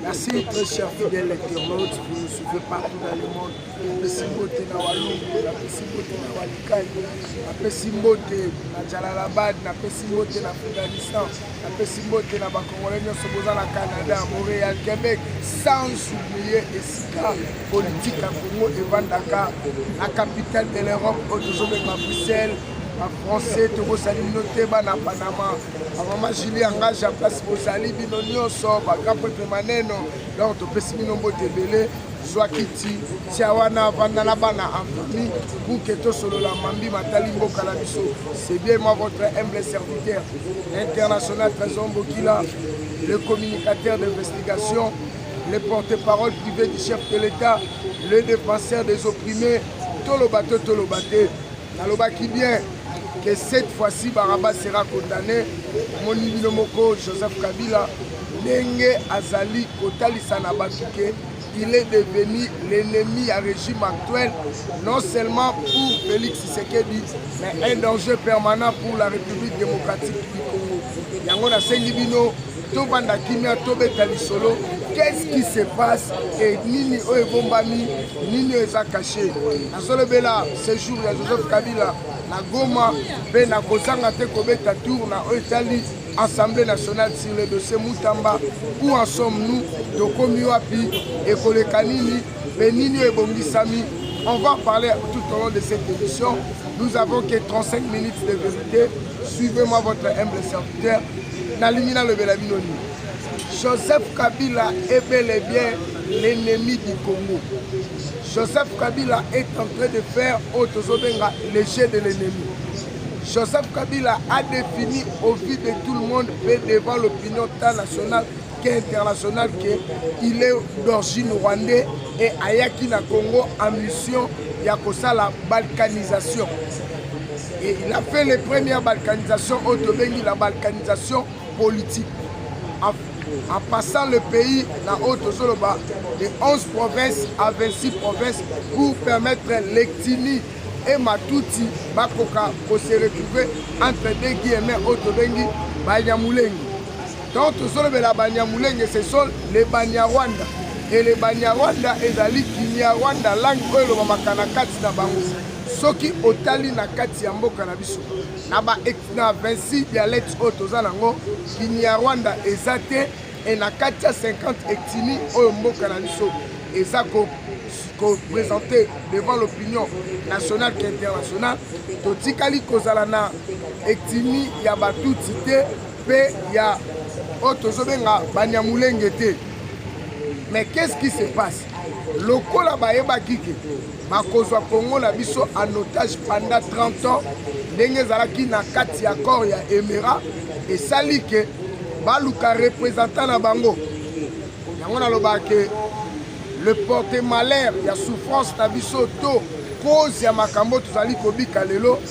Merci très cher fidèle internaute, vous nous suivez partout dans le monde. Apesi mbote na Walungu, apesi mbote na Walikani, apesi mbote na Jalalabad, apesi mbote na Afghanistan, apesi mbote na bakongole nyonso boza na Canada, Montréal, Québec, sans oublier esika politique ya Congo evandaka na capitale de l'Europe oyo tozobenga Bruxelles. Ba français tokosali bino te bana Panama mama julie engage ya place bozali bino nyonso bagrand pretre maneno donc topesi bino mbote ebele zwa kiti tia wana avanda na bana en famille buke tosolola mambi matali mboka na biso c'est bien moi votre humble serviteur international trésor bokila le communicateur d'investigation le porte-parole privé du chef de l'état le défenseur des opprimés toloba te toloba te nalobaki bien que cette fois-ci baraba sera condamné omoni bino moko joseph kabila ndenge azali kotalisa na bato ke il est devenu l'ennemi ya régime actuel non seulement pour félix tshisekedi mais un danger permanent pour la république démocratique du congo yango nasengi bino tobanda kimia tobeta lisolo qu'est-ce qui se passe et nini oyo ebombami nini oyo eza kashe nazolobela séjour ya joseph kabila na goma mpe na kozanga te kobeta tour na oyo etali assemblée nationale sur le dossier mutamba où en sommes nous tokomi wapi ekoleka nini mpe nini oyo ebongisami on va parler tout au long de cette émission nous avons que 35 minutes de vérité suivez-moi votre humble serviteur Nalingi nalobela bino nini? Joseph Kabila est bel et bien l'ennemi du Congo. Joseph Kabila est en train de faire oyo tozobenga le jeu de l'ennemi. Joseph Kabila a défini au vu de tout le monde et devant l'opinion nationale ke international ke il est d'origine rwandais et ayaki na congo en mission ya kosala balkanisation et il a fait les premières balkanisations oyo tobengi la balkanisation politique en, en passant le pays na oyo tozoloba de 11 provinces à 26 provinces pour permettre lectini et matuti bakoka kose retrouver entre deux guillemets oyo tobengi banyamulengi Donc tozolobela Banyamulenge, ce sont les Banyarwanda. Et les Banyarwanda ezali Kinyarwanda, langue oyo elobamaka na kati na bango. Soki otali na kati ya mboka na biso, na ba na 26 dialectes oyo toza nango, Kinyarwanda eza te et na kati ya 50 etini oyo mboka na biso eza ko ko présenter devant l'opinion nationale qu'internationale totikali kozala na etini ya batutsi te mpe ya oyo tozobenga banyamulenge te mais qu'est ce qui se passe lokola bayebaki ke bakozwa kongo na biso en otage pendant 30 ans ndenge ezalaki na kati ya corps ya emera esali ke baluka représentant na bango yango nalobaka ke le porte malheur ya souffrance na biso to cause ya makambo tozali kobika lelo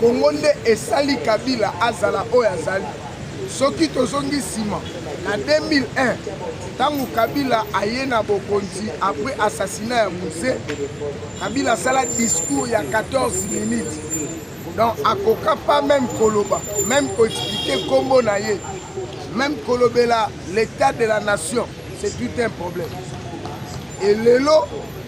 Congo nde esali Kabila azala oyo azali. Soki tozongi nsima na 2001 ntango Kabila aye na bokonzi après assassinat ya Muse, Kabila asala discours ya 14 minutes donc akoka pas même koloba même koexplike nkombo na ye même kolobela l'état de la nation c'est tout un problème et lelo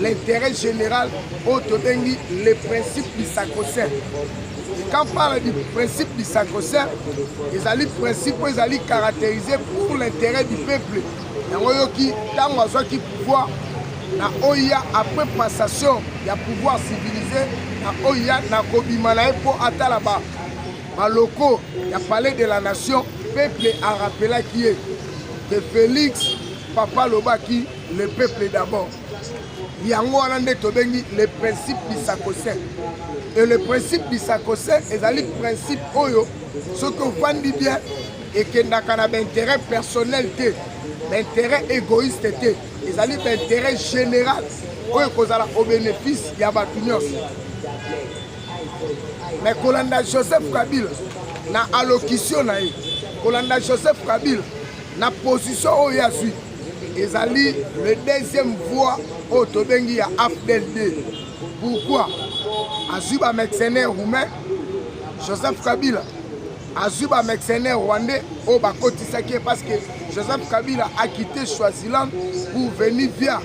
l'intérêt général oyo tobengi le principe du sacro-saint quand parle du principe du sacro-saint ezali principe oyo ezali caractérisé pour l'intérêt du peuple yango oyoki ntango azwaki pouvoir na oya après passation ya pouvoir civilisé na oya na kobima na ye mpo atala baloko ya palais de la nation peuple arapelaki ye que félix papa alobaki le peuple d'abord yango wana nde tobengi le principe bisakose e le principe bisakose ezali principe oyo soki ofandi bien ekendaka na baintérêt personnel te baintérêt égoïste te ezali baintérêt général oyo ekozala au bénéfice ya bato nyonso me kolanda joseph kabila na allocution na ye kolanda joseph kabila na position oyo ye azwi ezali le deuxième voix oyo tobengi ya afdel 2 pourquoi azwi bamercenaire roumain joseph kabila azwi bamercenaire rwandais oyo bakotisaki ye parce que joseph kabila akite swaziland pour venir via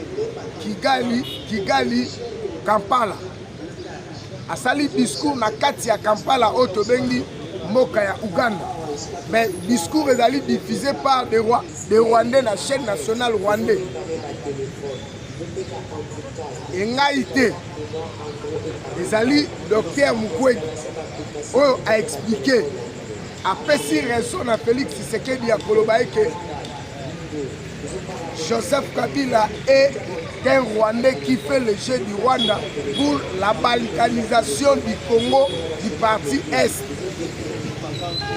kigali kigali kampala asali discours na kati ya kampala oyo tobengi mboka ya uganda mais discours ezali diffusé par de, roi, de rwandais na chaîne nationale rwandais engai te ezali docteur mukwege oyo aexplike apesi raison na félix tshisekedi ya koloba eke Joseph Kabila est un Rwandais qui fait le jeu du Rwanda pour la balkanisation du Congo du parti Est.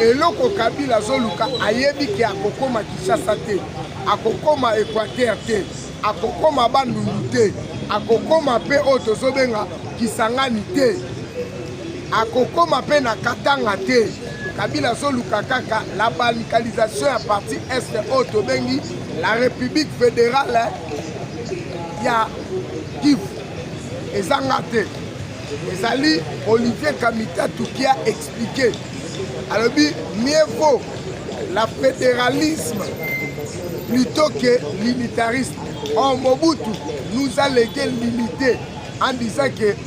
eloko kabila azoluka ayebi ke akokoma kinshasa te akokoma equateur te akokoma bandundu te akokoma mpe oyo tozobenga kisangani te Akokoma pe na Katanga te. Kabila azoluka kaka la balkanisation ya parti est oyo tobengi la république fédérale ya Kivu ezanga te ezali Olivier Kamita Tukia expliqué alobi mieux vaut la fédéralisme plutôt que l'unitarisme or Mobutu nous a légué l'unité en disant que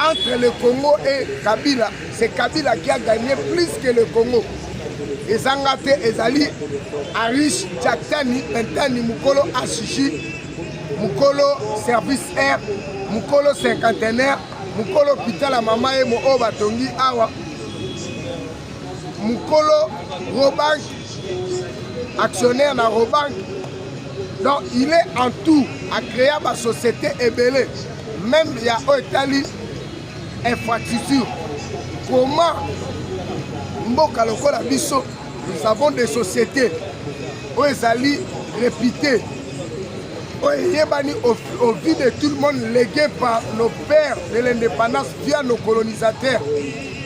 Entre le Congo et Kabila, c'est Kabila qui a gagné plus que le Congo. ezanga te ezali arish jaktani pentani mokolo ashiji mokolo service air mokolo cinquantenaire mokolo hopital ya mama ye oyo batongi awa mokolo robank actionnaire na robank donc il est en tout acréa basociété ebele même ya oyo etali infrastructure comment mboka lokola biso nous avons des sociétés oyo ezali réputées oyo eyebani au vie de tout le monde légué par nos pères de l'indépendance via nos colonisateurs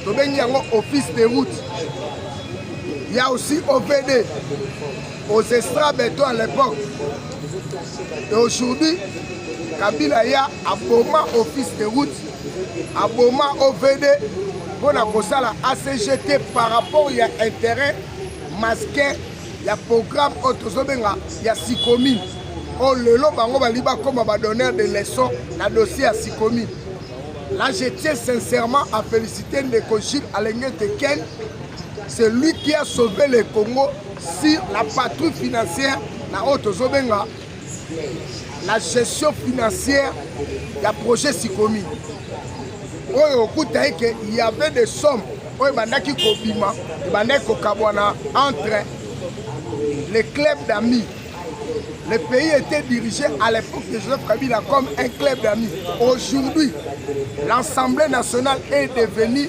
tobengi yango office de route ya aussi ovd aux extra beton à l'époque et aujourd'hui kabila ya aboma office de route aboma ovd mpo na kosala acgt par rapport ya intérêt masquin ya programme oyo tozobenga ya sikomine oyo lelo bango balingi bakoma badonneur de leçon na dossier ya sikomine là je tiens sincèrement à féliciter ndeko jules alengete ken C'est lui qui a sauvé le Congo sur la patrouille financière na oyo tozobenga la gestion financière ya projet sikomi oyo okuta eke y avait des sommes oyo ebandaki kobima ebandaki kokabwana entre les clubs d'amis le pays était dirigé à l'époque de Joseph Kabila comme un club d'amis aujourd'hui l'Assemblée nationale est devenue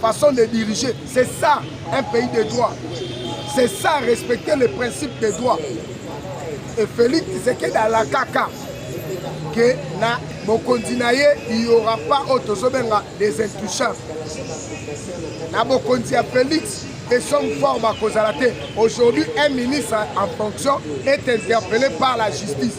Façon de diriger, c'est ça un pays de droit. C'est ça respecter les principes de droit. Et Félix Tshisekedi à la caca que na bokonzi na ye il y aura pas oyo tozobenga des intouchables na bokonzi ya félix et son fort bakozala te aujourd'hui un ministre en fonction est interpellé par la justice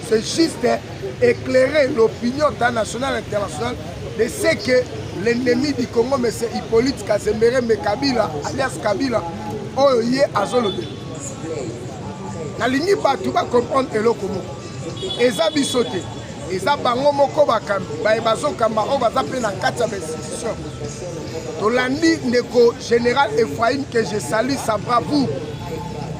C'est juste éclairer l'opinion internationale internationale de ce que l'ennemi du Congo, M. Hippolyte Kazembere Mekabila, alias Kabila, oyo ye azolobela. Nalingi bato bacomprendre eloko moko. Eza biso te. eza bango moko bakambi baye bazokamba oyo baza mpe na kati ya bainstitution tolandi ndeko général ephraim que je salue sa bravoure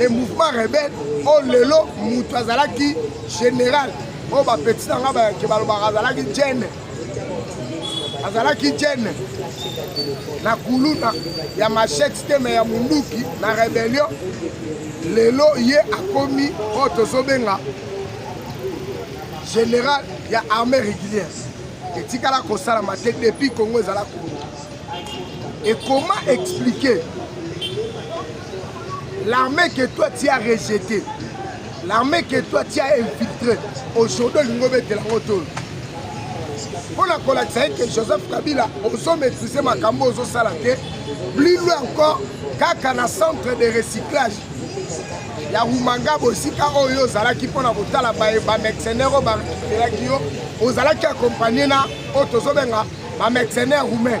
e mouvement rebelle oyo oh, lelo moto azalaki général oyo oh, bapeti na nga bayake balobaka azalaki jene azalaki jene na kuluna ya machete te me ya munduki na rebellion lelo ye akomi oyo oh, tozobenga général ya armée régulière etikala kosalama te depuis congo ezala kongo ekoma explike L'armée que toi tu as rejeté, l'armée que toi tu as infiltré, aujourd'hui olingo betela ngo tolo. Mpo na kolakisa ye ke Joseph Kabila ozo maîtrise makambo ozosala te, plus loin encore kaka na centre de recyclage ya rumangabo esika oyo ozalaki mpo na kotala bamercenaire oyo barekiperaki yo ozalaki akompagne na oyo tozobenga bamercenaire roumain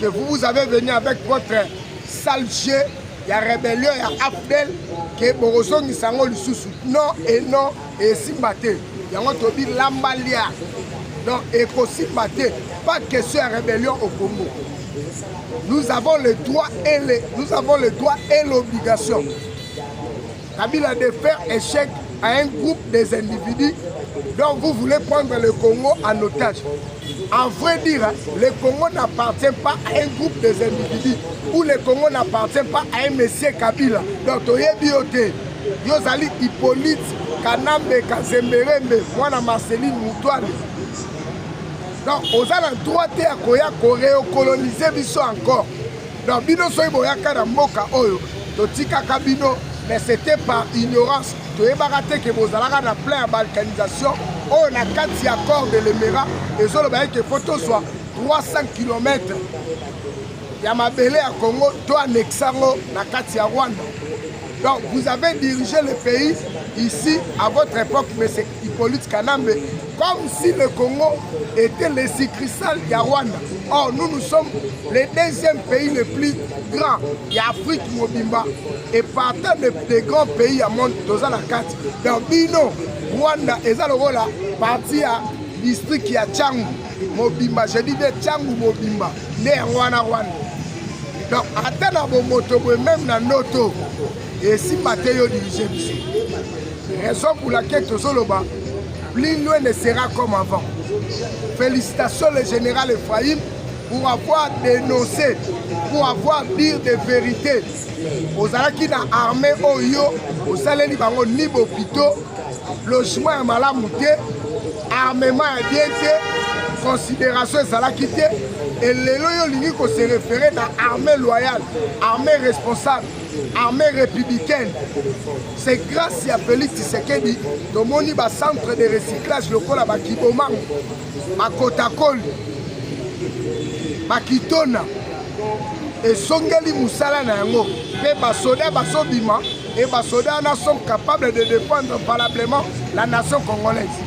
que vous vous avez venu avec votre sale jeu ya rébellion ya afdel ke bokozongisa yango lisusu non et non esimba te yango tobi lamba lia donc ekosimba te pas question ya rébellion au congo nous avons le droit et le, nous avons le droit et l'obligation Kabila de faire échec à un groupe des individus dont vous voulez prendre le Congo en otage. En vrai dire, le Congo n'appartient pas à un groupe des individus ou le Congo n'appartient pas à un monsieur Kabila. Donc, toyebi yo te. Yo zali Hippolyte Kanambe Kazemberembe, mwana Marceline Mutuale. Donc, oza na droit te ya koya koreokolonize biso encore. Donc bino soki boyaka na mboka oyo totikaka bino mais c'était par ignorance toyebaka te ke bozalaka na plein ya balkanisation oyo na kati ya corps de lemera ezoloba ete fo tozwa 300 km ya mabele ya congo to anexe yango na kati ya rwanda donc vous avez dirigé le pays ici à votre époque mais c'est Hippolyte Kanambe, comme si le Congo était le succursale ya Rwanda. Or, nous, nous sommes le deuxième pays le plus grand ya Afrique mobimba et partant des de grands pays ya monde toza na kati. Donc, bino, Rwanda eza lokola parti ya district ya Changu mobimba, je dis bien Changu mobimba, nde yango wana Rwanda. Donc, ata na bomoto boye meme na ndoto esimba te yo dirige biso raison pour laquelle tozoloba plus loin ne sera comme avant félicitations le général ephraïm pour avoir dénoncé pour avoir dire des vérités ozalaki na armée oyo osaleli bango ni bopito logement ya malamu te armement ya bien te considération ezalaki te elelo yo olingi kose refere na armée loyale armée responsable armée républicaine c'est grâce ya félix tshisekedi tomoni bacentre de recyclage lokola bakibomango bakotakoli bakitona esongeli mosala na yango mpe basoda bazobima e basoda wana sont capables de défendre valablement la nation congolaise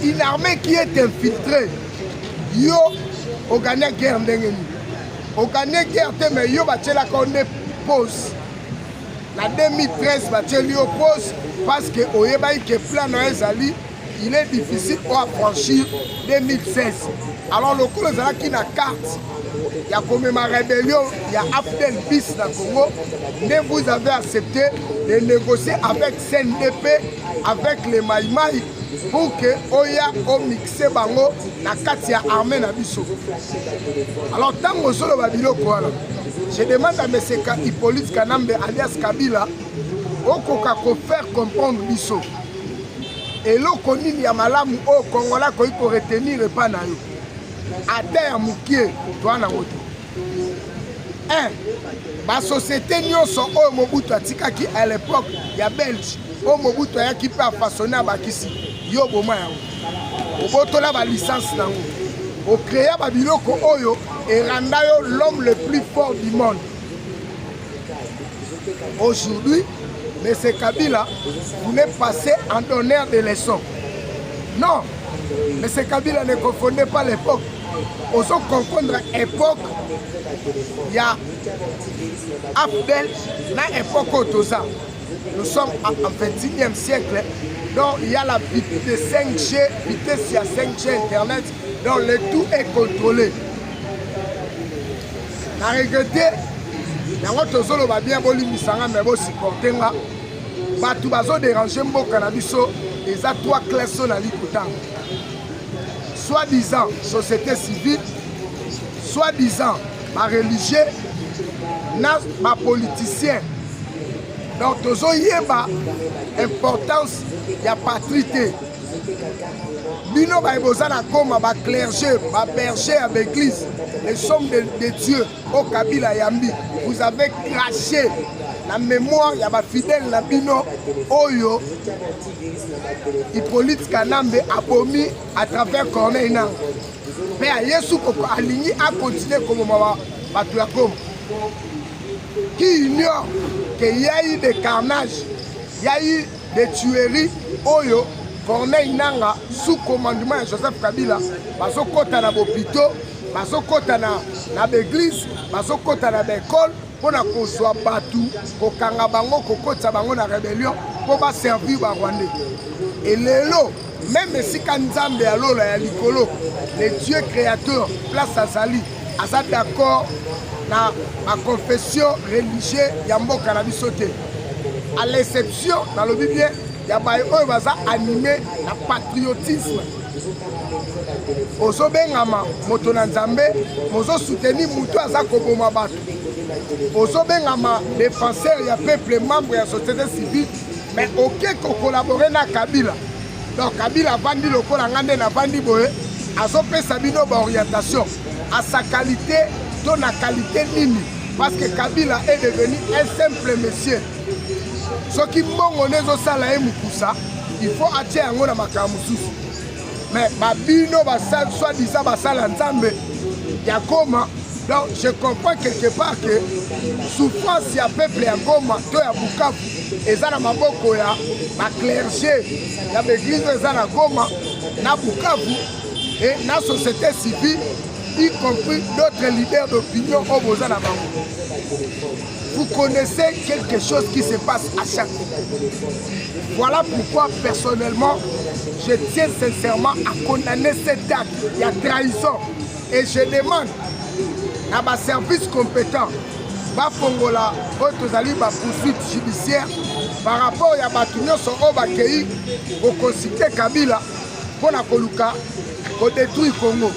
une armée qui est infiltrée yo ogania guerre ndenge nini okane guerre te mais yo batyelaka yo nde pose na 2013 batyeli yo pose parce que oyebaki ke plan na yo ezali il est difficile o affranchir 2016 alors lokola ezalaki na carte ya komema rébellion ya afdel bis na congo nde vous avez accepté de négocier avec cndp avec les maimai pour que oya omix se bango na kati ya armée na biso alors ntango ozoloba biloko wana je demande à monsieur hippolyte kanambe alias kabila okoka kofaire comprendre biso eloko nini ya malamu oyo kongola akoki koretenir epai na yo ata ya mokie toa nango te Eh, ba société nyonso oyo Mobutu atikaki à l'époque ya Belge oyo Mobutu ayaki mpe afasone abakisi yo boma yango obotola ba licence na yango ocréa ba biloko oyo eranda yo l'homme le plus fort du monde aujourd'hui M. Kabila voulait passer en donneur de leçons. Non, M. Kabila ne confondait pas l'époque ozo confondre epoque ya afdel na epoque oyo toza nous sommes en 21e siècle donc il y a la vitesse de 5G vitesse ya 5G internet donc le tout est contrôlé na regrete yango tozoloba bien bolimbisa nga me bosupporte nga bato bazoderange mboka na biso eza 3 classe oyo nali kotanga soit disant société civile soit disant bareligieux na bapoliticien donc tozoyeba importance ya patrie te bino baye boza na goma baclerge baberger ya baeglise les sommes de, de dieu o kabila yambi vous avez craché na mémoire ya bafidèle na bino oyo Hippolyte Kanambe abomi à travers Corneille Nangaa mpe ya Yesu koko alingi akontinue koboma bato ya Goma qui ignore que y a eu des carnages, y a eu des tueries oyo Corneille Nangaa sous commandement ya Joseph Kabila bazokota na bopito bazokota na, na baeglise bazokota na baekole mpo na kozwa bato kokanga bango kokotisa bango na rebellion mpo baservir barwandais e lelo meme esika nzambe ya lola ya likolo le dieu créateur place azali aza d'accord na baconfession religieux ya mboka na biso te à l'exception nalobi bien ya baye oyo baza anime na patriotisme ozobengama moto na nzambe mozosuteni moto aza koboma bato ozobengama defenseur ya peuple membre ya société civile mais oke kokolabore na kabila donc kabila avandi lokola ngai nde navandi boye azopesa bino baorientation asa qualité to na qualité nini parce que kabila est devenu un simple monsieur soki mbongo nde ezosala ye mokusa il faut atia yango na makambo mosusu mais babino basal soit disant basala nzambe ya goma donc je comprends quelque part que souffrance ya peuple ya goma to ya bukavu eza na maboko ya baclerge ya baeglise eza na goma na bukavu et na société civile y compris d'autres leaders d'opinion oyo boza na bango Vous connaissez quelque chose qui se passe à chaque fois. Voilà pourquoi personnellement, je tiens sincèrement à condamner cet acte. Il y a trahison. Et je demande à ma service compétent bafongola oyo tozali bapoursuite judiciaire par rapport ya bato nyonso oyo bakei kokonsite kabila mpo na koluka kodetruire congo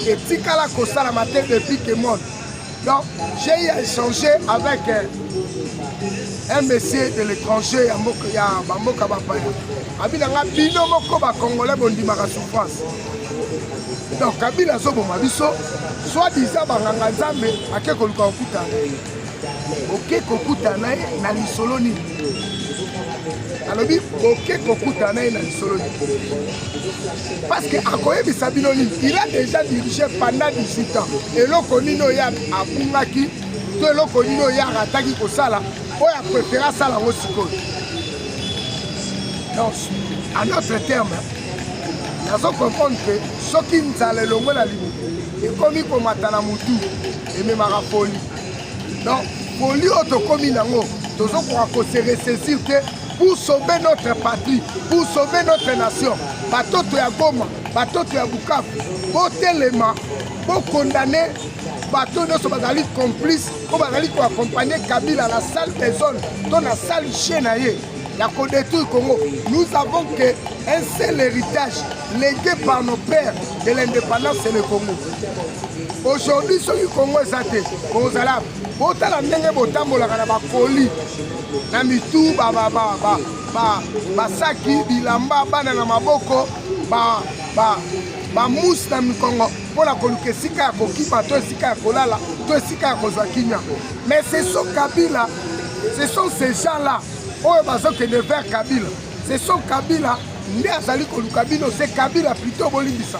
etikala kosalama te depuis ke monde Donc, j'ai eu à échanger avec euh, un monsieur de l'étranger ya mboka ya bamboka bapaya abina nga bino moko bacongolais bondimaka souffrance donc kabila azoboma biso soit disant banganga nzambe ake koluka kokutana na ye oke kokutana na ye na lisolo nini alobi oke kokutana na ye na lisolo nini parce que akoyebisa bino nini il a déjà dirigé pendant 18 ans eloko nini oyo abungaki to eloko nini oyo arataki kosala oyo aprefere asala yango sikoyo donc en autre terme nazo comprendre mpe soki nzala elongwe na libumu ekomi komata na motu ememaka foli donc foli oyo tokomi nango tozokoka koseresesir te pour sauver notre patrie, pour sauver notre nation. Batoto ya Goma, batoto ya Bukavu, botelema, bokondane bato nyonso bazali complice mpo bazali koaccompagne Kabila na salle des zones to na salle chien na ye ya kodétruire Congo. Nous avons que un seul héritage légué par nos pères de l'indépendance, c'est le Congo. Aujourd'hui, soki Congo eza te, kozala botala ndenge botambolaka na bakoli na mitu basaki bilamba bana na maboko bamousse na mikongo mpo na koluka esika ya kokima to esika ya kolala to esika ya kozwa kimia mais ce sont kabila ce sont ces gens là oyo bazokende vers kabila ce sont kabila nde azali koluka bino se kabila plutôt bolimbisa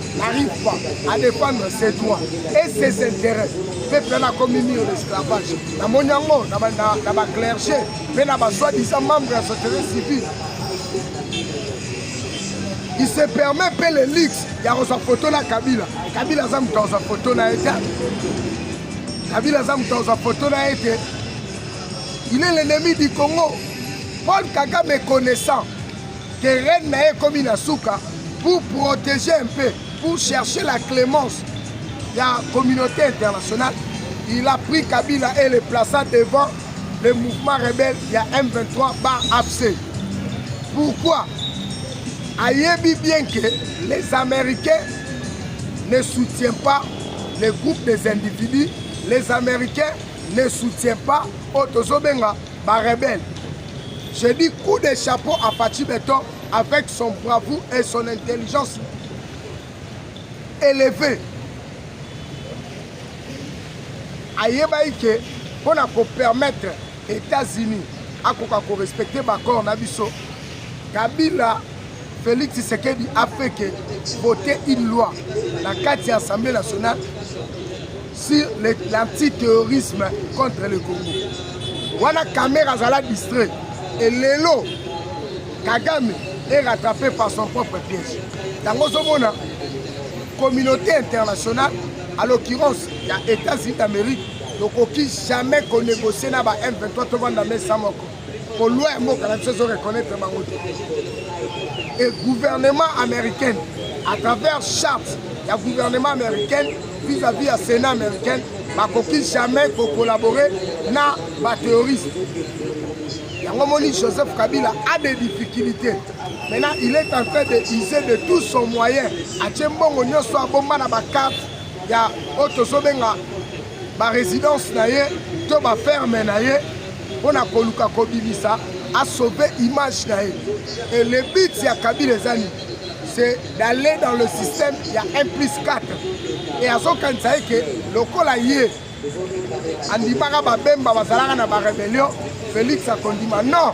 n'arrive pas à défendre ses droits et ses intérêts peuple wana akomi mio na esclavage namoni yango na baclerge mpe na basoi-disant membre ya société civile il se permet mpe le luxe ya kozwa foto na kabila kabila aza moto akozwa foto na ye te kabila aza moto akozwa foto na ye te il est l'ennemi du congo paul kagame connaissant que reine na ye ekomi na suka pour protéger un peu pour chercher la clémence ya communauté internationale il a pris kabila et le plaça devant le mouvement rebelle ya m23 bar afc pourquoi ayebi bien que les américains ne soutient pas le groupe des individus les américains ne soutient pas oyo tozobenga ba rebelle je dis coup de chapeau à Fatshi Beton avec son bravoure et son intelligence élevée ayebaki ke mpo na kopermettre états-unis akoka korespecte baaccord na biso kabila félix tshisekedi afeke vote une loi na kati ya assemblée nationale sur l'anti-terrorisme contre le Congo. Wana Kamera azala distrait. Et lelo, Kagame est rattrapé par son propre piège. Yango ozomona communauté internationale, à l'occurrence ya États-Unis d'Amérique, tokoki jamais konégocier na ba M23 tovanda mesa moko. ko loi ya mboka na biso ezo reconnaître bango te et gouvernement américaine à travers charte ya gouvernement américaine vis-à-vis ya sénat américaine bakoki jamais kocollaborer na baterroriste yango omoni joseph kabila a des difficultés maintenant il est en train de user de tout son moyen atie mbongo nyonso abomba na bakarte ya oyo tozobenga baresidence na ye to baferme na ye mpo na koluka kobimisa asauve image na ye e le but ya kabila eza nini c'est d'aller dans le système ya 1 plus 4 e azokanisa ye ke lokola ye andimaka babemba bazalaka na barebellion félix akondima non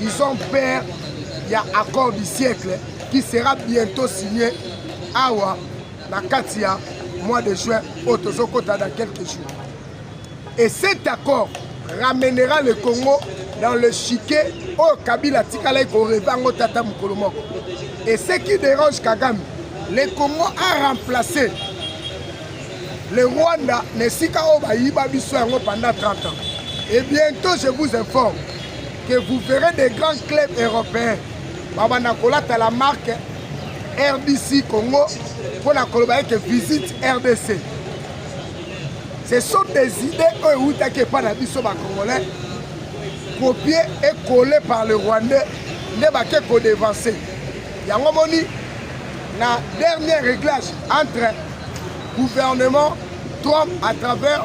Ils ont peur ya accord du siècle qui sera bientôt signé awa na kati ya mois de juin oyo tozokota dans quelques jours et cet accord ramènera le congo dans le chiquet oyo kabila atikalaki koreve yango tata mokolo moko et ce qui dérange kagame le congo a remplacé le rwanda na esika oyo bayiba biso yango pendant 30 ans et bientôt je vous informe que vous verrez des grands clubs européens babanda kolata la marque rdc congo mpo na koloba ete visite rdc ce sont des idées oyo ewutaki epai na biso bacongolais copie et collé par le rwandais nde bake kodevanse yango moni na dernier réglage entre gouvernement trump à travers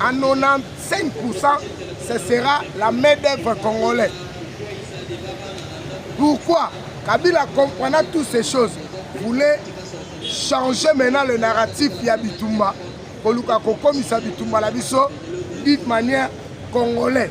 En 95%, ce sera la main d'œuvre congolaise. Pourquoi Kabila comprenant toutes ces choses voulait changer maintenant le narratif ya bitumba koluka kokomisa bitumba na biso d'une manière congolais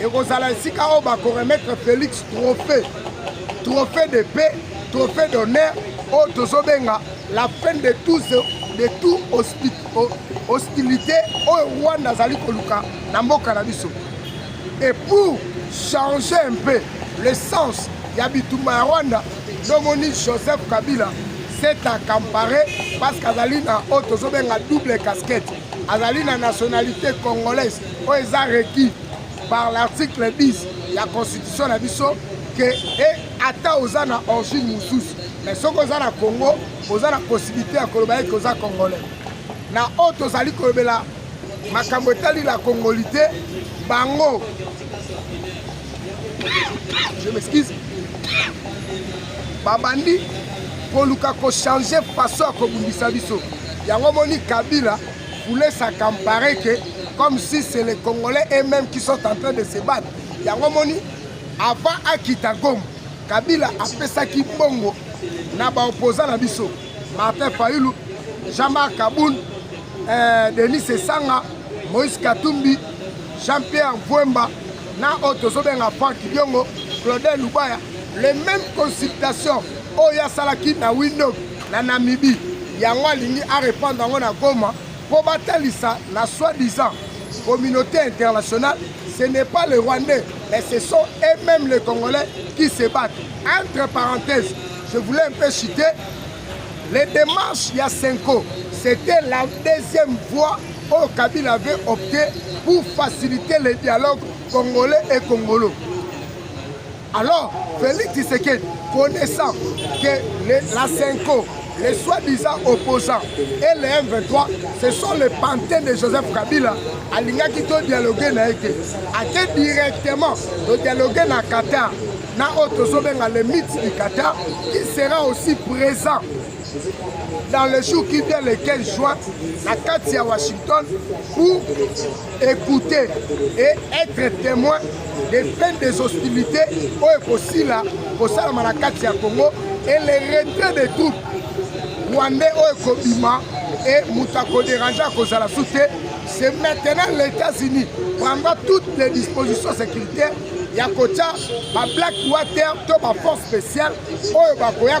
ekozala esika oyo bakoremettre félix trophée trophée de paix trophée d'honneur oyo tozobenga la fin de tout, de tout hostilité oyo rwanda azali koluka na mboka na biso et pour changer un peu le sens ya bitumba ya rwanda ndomoni joseph kabila s'est accampare parce qu'azali na oyo tozobenga double casquette azali na nationalité congolaise oyo eza requis par l'article 10 ya constitution na biso ke e ata oza na origine mosusu mais soki oza na congo oza na possibilité ya koloba ete oza congolais na oyo tozali kolobela makambo etali la congoli te bango je m'excuse babandi koluka kochange façon ya kobundisa biso yango omoni kabila voulait s'accamparer que comme si c'est les Congolais eux-mêmes qui sont en train de se battre. Yango moni avant akita Goma, Kabila apesaki bongo na ba opposants na biso. Martin Fayulu, Jean-Marc Kaboul, euh, Denis Sessanga, Moïse Katumbi, Jean-Pierre Mvwemba na oyo tozobenga Franck Diongo, Claudel Lubaya, les mêmes consultations oyo asalaki na windog na namibie yango alingi arepandre yango na goma mpo batalisa na soi-disant communauté internationale ce n'est pas les rwandais mais ce sont et même les congolais qui se battent entre parenthèses je voulais un peu citer les démarches ya senko c'était la deuxième voie oyo kabila avait opté pour faciliter le dialogue congolais et congolo Alors, Félix Tshisekedi, connaissant que les, la Senko, les soi-disant opposants et les M23, ce sont les pantins de Joseph Kabila, alingaki to dialoguer na ye te. Ake directement to dialoguer na Qatar, na oyo tozobenga le mythe du Qatar, qui sera aussi présent dans le jour qui vient le 15 juin na kati ya Washington pour écouter et être témoin des fins des hostilités oyo ekosila kosalama na kati ya congo et le retrait des troupes rwandais oyo ekobima et moto akoderange akozala su te c'est maintenant les états-unis prendra toutes les dispositions sécuritaires ya kotya bablack water to baforce spéciale oyo bakoya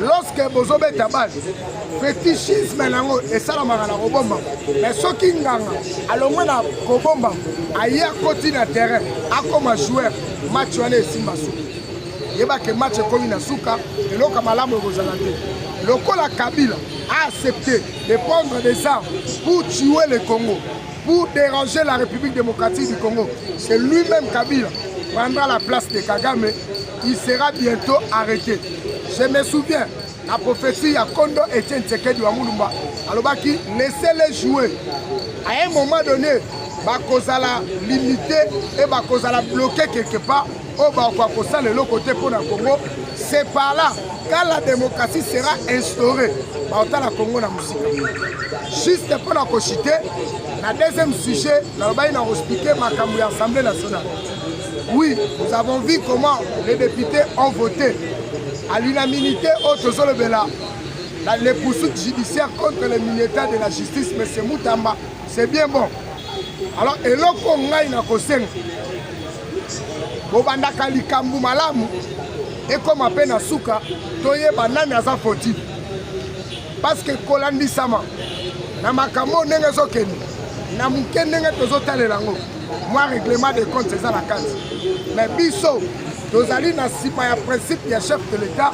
lorsque bozobeta bale fetichisme na yango esalamaka na kobomba mais soki nganga alongwe na kobomba aye akoti na terrain akoma joueur match wana esimba suki yebake match ekomi na suka eloka malamu ekozala te lokola kabila a accepte de prendre des armes pour tuer le congo pour déranger la République démocratique du Congo. C'est lui-même Kabila prendra la place de Kagame. Il sera bientôt arrêté. Je me souviens, la prophétie ya Kondo Etienne Tshisekedi wa Mulumba alobaki laissez-les jouer. À un moment donné, bakozala limité et bakozala bloqué quelque part oyo bakoka kosala eloko te mpo na congo c'est par là quand la démocratie sera instaurée baotala congo na mosika juste mpo na kochite na deuxième sujet nalobaki na kospike makambo ya assemblée nationale oui nous avons vu comment les députés ont voté à l'unanimité oyo tozolobela les poursuites judiciaires contre le ministère de la justice monsieur mutamba c'est bien bon alors eloko ngai nakosenga bobandaka likambo malamu ekoma mpe na suka toyeba nani aza foti parceke kolandisama na makambo oyo ndenge ezokende na moke ndenge tozotalela yango mwa règlement de compte eza na kati me biso tozali na nsima ya principe ya chef de l'etat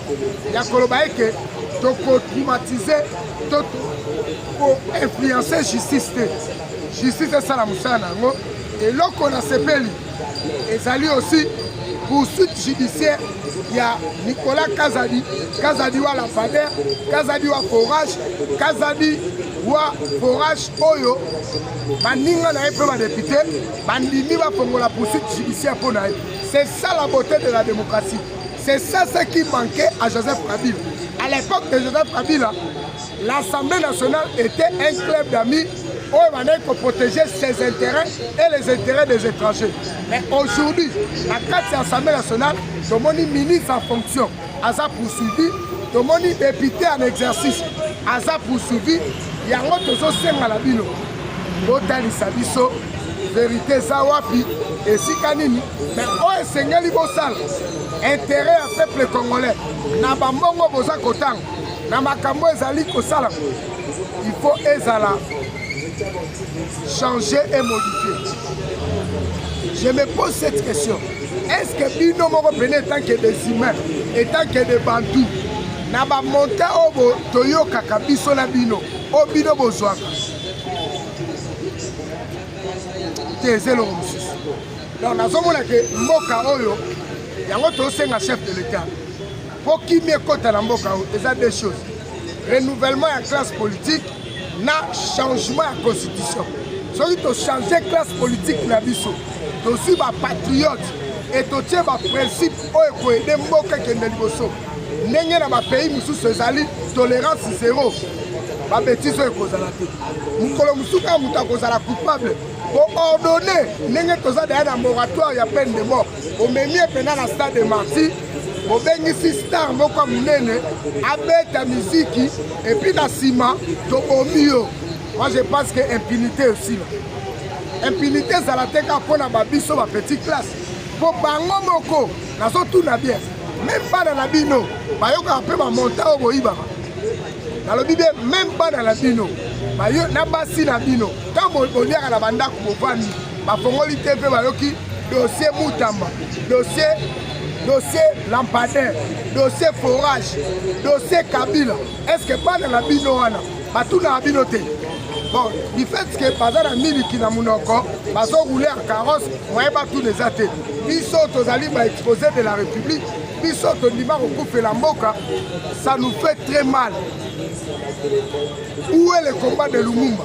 ya koloba eke tokotraumatize to koinfluence justice te justice esala mosala na yango Eloko na sepeli ezali aussi poursuite judiciaire ya Nicolas Kazadi, Kazadi wa lampader, Kazadi wa forage, Kazadi wa forage oyo baninga na ye mpe badepute bandimi bafongola poursuite judiciaire mpo na ye. C'est ça la beauté de la démocratie. C'est ça ce qui manquait à Joseph Kabila. À l'époque de Joseph Kabila, L'Assemblée nationale était un club d'amis oyo bandaki koprotéger ses intérêts et les intérêts des étrangers mais aujourd'hui na kati ya assemblée nationale tomoni ministre en fonction aza poursuivi tomoni député en exercice aza poursuivi yango tozosenga na bino botalisa biso verité eza wapi esika nini me oyo esengeli bosala intere ya peuple congolais na bambongo boza kotanga na makambo ezali kosala il faut ezala changer et modifier je me pose cette question est ce que bino moko pene etant que des humains etant que des bantou na bamonte oyo toyokaka biso na bino oyo bino bozwaka te eza eloko mosusu donc nazomona ke mboka oyo yango tosenga chef de l'etat Mpo kimia ekota na mboka oyo eza deux choses. Renouvellement ya classe politique na changement ya constitution. Soki to changer classe politique na biso, tozwi ba patriotes et totie ba principes oyo ekoyede mboka ekende liboso. Ndenge na ba pays mosusu ezali tolerance zero. Ba bêtises oyo ekozala te. Mokolo mosusu kaka moto akozala coupable ko ordonner ndenge toza daya na moratoire ya peine de mort bomemi ye mpenza na stade de martyr bobengisi star moko ya monene abeta miziki epuis na nsima tobomi yo moi je pense que impunité esila impunité ezala te kaka mpo na babiso ba petite classe mpo bango moko nazotuna bien meme bana na bino bayokaka mpe bamonta oyo boyibaka nalobi bien meme bana na bino na basi na bino ntango boliaka na bandako bovandi bafongoli te mpe bayoki dossier mutamba dossier dossier lampadaire dossier forage dossier kabila est ce que bana na bino wana batunaka bino te bon du fait que baza na miliki na monoko bazorouler ya carrosse moye batuna eza te biso tozali baexposé de la république biso tondima kokufela mboka ça nous fait très mal où est le combat de lumumba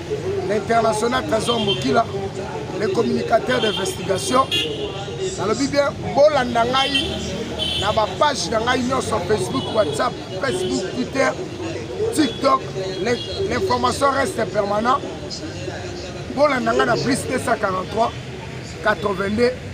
l'international trésor mokila le communicateur d'investigation nalobi bien bolanda ngai na bapage na ngai nyonso facebook whatsapp facebook twitter tiktok l'information reste permanent bolanda ngai na plus 243 82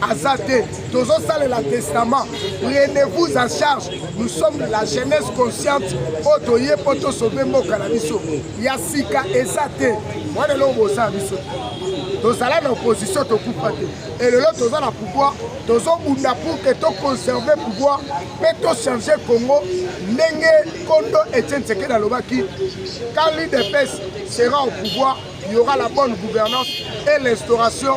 aza te tozosalela testament prenez vous en charge nous sommes la jeunesse consciente oyo toye mpo tosove mboka na biso ya sika eza te mwana eloko boza biso tozala na opposition tokufa te elelo toza na pouvoir tozobunda pour ke toconserve pouvoir mpe tochange congo ndenge kondo etienne sekedi alobaki quand l'udps sera au pouvoir il y aura la bonne gouvernance et l'instauration